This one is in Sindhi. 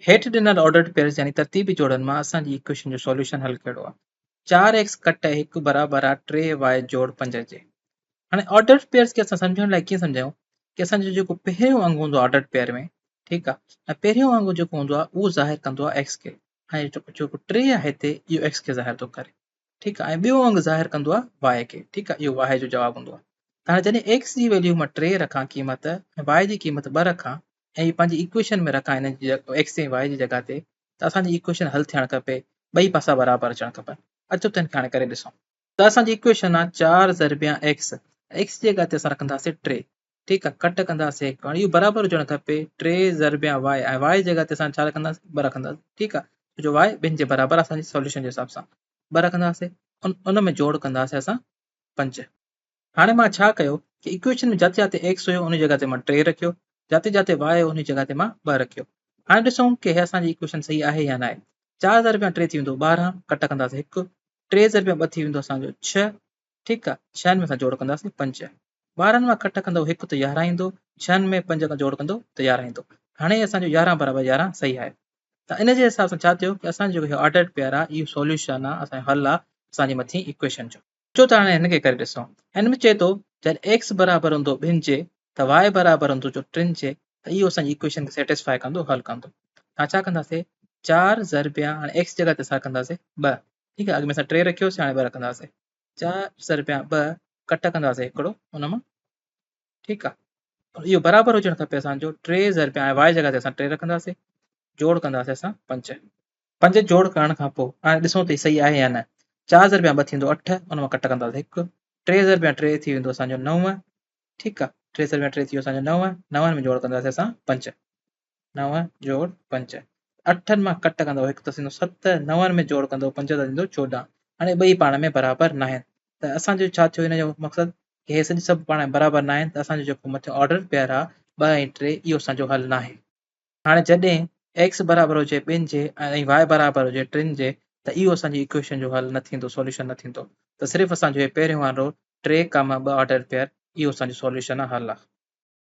هيٺ ڏنل آرڊرڊ پيئرز يعني ترتيبي جوڙن مان اسان جي ايڪويشن جو سوليوشن حل ڪهڙو آهي؟ چار ايڪس ڪٽ هڪ برابر آهي ٽي واء جوڙ پنج جي. هاڻي آرڊرڊ پيئرز کي اسان سمجهڻ لاء ڪيئن سمجهايون ڪي اسان جو جيڪو پهريون انگ هوندو آهي آرڊرڊ پيئر ۾ ٺيڪ آهي ۽ پهريون انگ جيڪو هوندو آهي اهو ظاهر ڪندو آهي ايڪس کي ۽ جيڪو ٽي آهي هتي اهو ايڪس کي ظاهر ٿو ڪري ٺيڪ آهي ۽ ٻيو انگ ظاهر ڪندو آهي واء کي ٺيڪ آهي اهو واء جو جواب هوندو آهي هاڻي جڏهن ايڪس جي ويليو مان ٽي رکان قيمت ۽ واء جي قيمت ٻه رکان ۽ هي پنهنجي ايڪويشن ۾ رکان هن جي ايڪس ۽ واء جي جڳهه تي ته اسان جي ايڪويشن حل ٿيڻ کپي ٻئي پاسا برابر اچڻ کپن اچو ته هن کي هاڻي ڪري ڏسون ته اسان جي ايڪويشن آ چار ضربيا ايڪس ايڪس جي جڳهه تي اسان رکنداسين ٽي ٺيڪ آ ڪٽ ڪنداسين هڪ هاڻي اهو برابر هجڻ کپي ٽي ضربيا واء ۽ واء جي جڳهه تي اسان ڇا رکنداسين ٻه رکنداسين ٺيڪ آ ڇو جو واء ٻن جي برابر اسان جي سوليوشن جي حساب سان ٻه رکنداسين ان ان ۾ جوڙ ڪنداسين اسان پنج هاڻي مان ڇا ڪيو ڪي اڪويشن ۾ جاتي جاتي ايڪس هيو انهي جڳهه تي مان ٽي رکيو جاتي جاتي واء هيو انهي جڳهه تي مان ٻه رکيو هاڻي ڏسون ڪي هي اسان جي اڪويشن صحيح آهي يا ناهي چار ضرب يا ٽي ٿي ويندو ٻارهن ڪٽ ڪنداسين هڪ ٽي ضرب يا ٻه ٿي ويندو اسان جو ڇهه ٺيڪ آهي ڇهن ۾ اسان جوڙ ڪنداسين پنج ٻارهن مان ڪٽ ڪندو هڪ ته يارهن ايندو ڇهن ۾ پنج کان جوڙ ڪندو ته يارهن ايندو هاڻي اسان جو يارهن برابر يارهن صحيح آهي ته ان جي حساب سان ڇا ٿيو ڪي اسان جو هي آرڊرڊ پيئر آهي اهو سوليوشن آهي اسان جو حل آهي اسان جي مٿين اڪويشن جو اچو ته هاڻي هن کي ڪري ڏسون. هن ۾ چئي ٿو جڏهن ايڪس برابر هوندو ٻن جي ته واء برابر هوندو جو ٽن جي ته اهو اسان جي ايڪويشن کي سيٽسفائي ڪندو حل ڪندو ته اسان ڇا ڪنداسين چار ضرب يا هاڻي ايڪس جي جڳهه تي اسان رکنداسين ٻه ٺيڪ آهي اڳ ۾ اسان ٽي رکيوسي هاڻي ٻه رکنداسين چار ضرب يا ٻه ڪٽ ڪنداسين هڪڙو ان مان ٺيڪ آ اهو برابر هجڻ کپي اسان جو ٽي ضرب پيا آهي وائي جي جڳهه تي اسان ٽي رکنداسين جوڙ ڪنداسين اسان پنج پنج جوڙ ڪرڻ کان پوء هاڻي ڏسون ته صحيح آهي يا نه چار ضرب پيا ٻه ٿيندو اٺ ان مان ڪٽ ڪنداسين هڪ ٽي ضرب پيا ٽي ٿي ويندو اسان جو نو ٺيڪ آ ٽي ضرب پيا ٽي ٿي ويو اسان جو نو نون ۾ جوڙ ڪنداسين اسان پنج نو جوڙ پنج، اٺن مان ڪٽ ڪندو هڪ ته ٿيندو ست، نون ۾ جوڙ ڪندو پنج ته ٿيندو چوڏهن. هاڻي ٻئي پاڻ ۾ برابر ناهن ته اسان جو ڇا ٿيو ان جو مقصد ڪي هي سڄي سڀ پاڻ ۾ برابر ناهن ته اسان جو جيڪو مٿيون آرڊر پيئر آ ٻه ۽ ٽي اهو اسان جو حل ناهي. هاڻي جڏهن X برابر هجي ٻن جي ۽ Y برابر هجي ٽن جي ته اهو اسان جي ايڪويشن جو حل نه ٿيندو سوليوشن نه ٿيندو ته صرف اسان جو هي پهريون وارو ٽي ڪاما ٻه آرڊر پيئر اهو اسان جو سوليوشن آ حل آ.